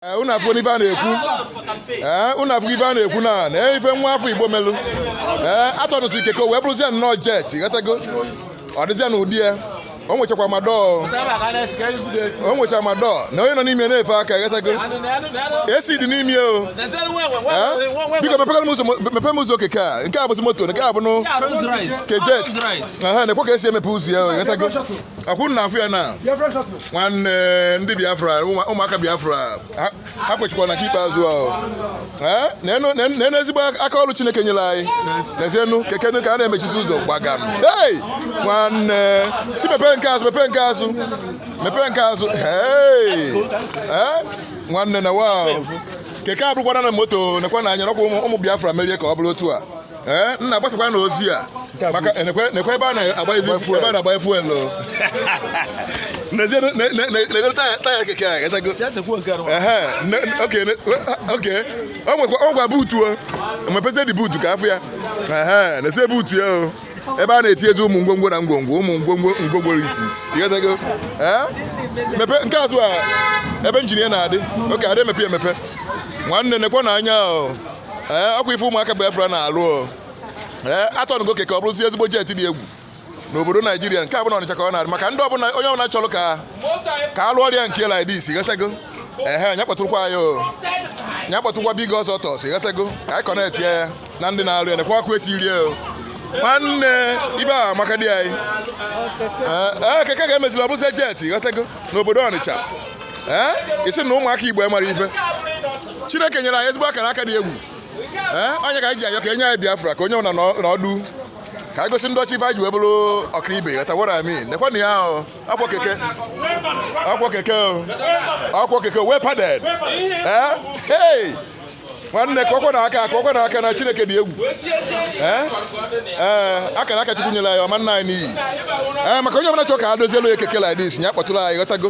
Eh, unu afụna ife a na-ekwu ee eh, unu afụ ife a na-ekwu na na ife nwa afọ igbo melụ ee eh, a tọnụzị keke wee bụrụzie nnọọ jet ghọtago ọ dịzịa n'ụdị ya o nwechakwa ma door o nwecha ma door nee onye nọ n'ime na-efe aka ghọtago esi dị n'ime o biko mepere m ụzọ keke a nke a bụzi moto nke a bụnụ kejet nekwa ka e si emepe ụzọ ya ghọtago ọkwa unu na-afụ ya na nwanne ndị biafra ụmụaka biafra ha kwechikwa na nke ikpeazụ ahụ nenu ezigbo aka ọrụ chineke nyere anyị nezienu nekenu ka a na-emechizi ụzọ gbagam hei nwanne si mepee nke azụ mepee nke azụ mepee nke azụ hei nwanne na wa keke abụrụkwana moto nekwanụ anya ọkwa ụmụ biafra mere ya ka ọ bụrụ otu a ee nna gbasakwanụ ozi a maka nekwa nekwa ebe a na-agbanyezi ebe a na-agbanye fuel o nezie ne- ne- ne- negodu taya taya keke a ghọtago ehe ne- okay ne- okay o nwekwa o nwekwa buutu o mepezi dị buutu ka a fụ ya ehe nezie buutu ya o ebe a na-etinyezi ụmụ ngwongwo na ngwongwo ụmụ ngwongwo ngwongwo like this ị ghọtago ee mepe nke azụ a ebe injin ya na-adị okay adị emepe emepe nwanne nekwanụ anya o ee ọkwa ife ụmụaka Biafra na-alụ o. ee a tọnụgo keke ọ bụrụzie ezigbo jet dị egwu n'obodo naijiria nke a bụ na ọnịcha ka ọ na-adị maka ndị ọbụla onye ọbụla chọrọ ka ka a lụọrọ ya nke like this ghọtago ehe nya kpọtụrụkwa anyị o nya kpọtụrụkwa big ọzọ tọs ghọtago ka anyị connect ya ya na ndị na-alụ ya nekwa ọkụ e tiri ya o nwanne ife a amaka di anyị Ee, ee, keke ka e meziri ọ bụzie jet ghọtago n'obodo ọnịcha ee ị sị na ụmụaka igbo mara ife chineke nyere anyị ezigbo akara aka dị egwu ee ọ nya ka anyị ji ayọ ka e nye anyị biafra ka onye ọbụla nọdụ ka anyị gosi ndị ọcha ife anyị ji wee bụrụ ọkaibe ị ghọtawara ami nekwanụ ya ahụ akwọ keke akwọ keke akwọ keke wee padded ee hey nwanne kụọkwanụ aka kụọkwanụ aka na chineke dị egwu ee eh? akara aka chukwu nyere anyị ọ ma-ana anyị n'iyi ee eh, maka onye ọbụla chọọ ka a dozielu ya keke like this ya kpọtụrụ anyị ghọtago